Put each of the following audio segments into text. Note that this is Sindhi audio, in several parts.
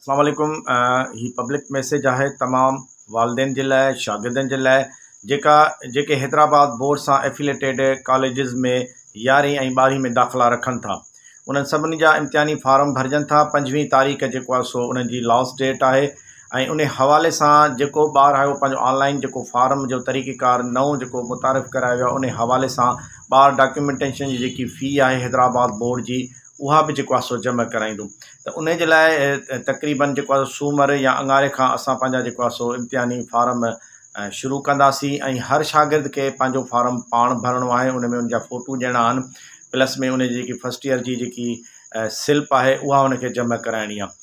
اسلام عليڪم هي پبلڪ ميسيج آهي تمام والدين جي لاء شاگردن جي لاء جيڪا جيڪي حيدرآباد بورڊ سان افيليٽيڊ ڪاليجز ۾ يارهين ۽ ٻارهين ۾ داخلا رکن ٿا انهن سڀني جا امتحاني فارم ڀرجن ٿا پنجويهه تاريخ جيڪو آهي سو انهن جي لاسٽ ڊيٽ آهي ۽ ان حوالي سان جيڪو ٻار آهي اهو پنهنجو آن لائن جيڪو فارم جو طريقه ڪار نئون جيڪو متعارف ڪرايو ويو ان حوالي سان ٻار ڊاڪيومينٽيشن جي جيڪي في آهي حيدرآباد بورڊ جي اها به جيڪو آهي سو جمع ڪرائيندو ته انهي جي لاء تقريبن جيڪو آهي سومر يا اڱاري کان اسان پنهنجا جيڪو آهي سو امتحاني فارم شروع ڪنداسين ۽ هر شاگرد کي پنهنجو فارم پاڻ ڀرڻو آهي ان ۾ ان جا فوٽو ڏيڻا آهن پلس ۾ ان جي جيڪي فرسٽ ييئر جي جيڪي سلپ آهي اها ان کي جمع ڪرائڻي آهي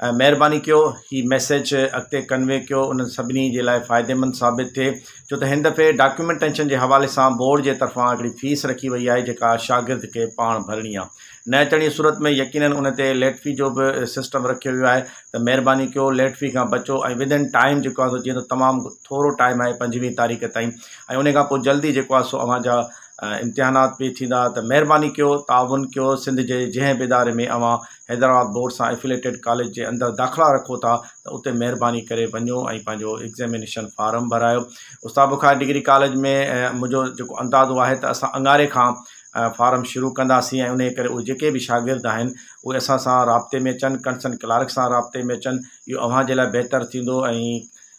مهرباني ڪيو هي ميسيج اڳتي ڪنوي ڪيو انهن سڀني جي لاء فائديمند ثابت ٿئي ڇو ته هن دفعي ڊاڪيومينٽينشن جي حوالي سان بورڊ جي طرفان هڪڙي فيس رکي وئي آهي جيڪا شاگرد کي پاڻ ڀرڻي آهي نه اچڻي صورت ۾ يقينن ان تي ليٽ في جو به سسٽم رکيو ويو آهي ته مهرباني ڪيو ليٽ في کان بچو ۽ ودن ٽائيم جيڪو آهي سو جيئن ته تمام ٿورو ٽائيم آهي پنجويهه تاريخ تائين ۽ ان کان پوء جلدي جيڪو آهي سو اوهان جا امتحانات به ٿيندا ته مهرباني ڪيو تعاون ڪيو سنڌ جي جنهن به اداري ۾ اوهان حيدرآباد بورڊ سان ائفليٽيڊ ڪاليج جي اندر داخلا رکو ٿا ته اتي مهرباني ڪري وڃو ۽ پنهنجو ايگزيمينيشن فارم ڀرايو استاد بخاري ڊگري ڪاليج ۾ منهنجو جيڪو اندازو آهي ته اسان اڱاري کان فارم شروع ڪنداسين ۽ انهي ڪري اهي جيڪي به شاگرد آهن اهي اسان سان رابطي ۾ اچن ڪنسرن ڪلارڪ سان رابطي ۾ اچن اهو اوهان جي لاء بهتر ٿيندو ۽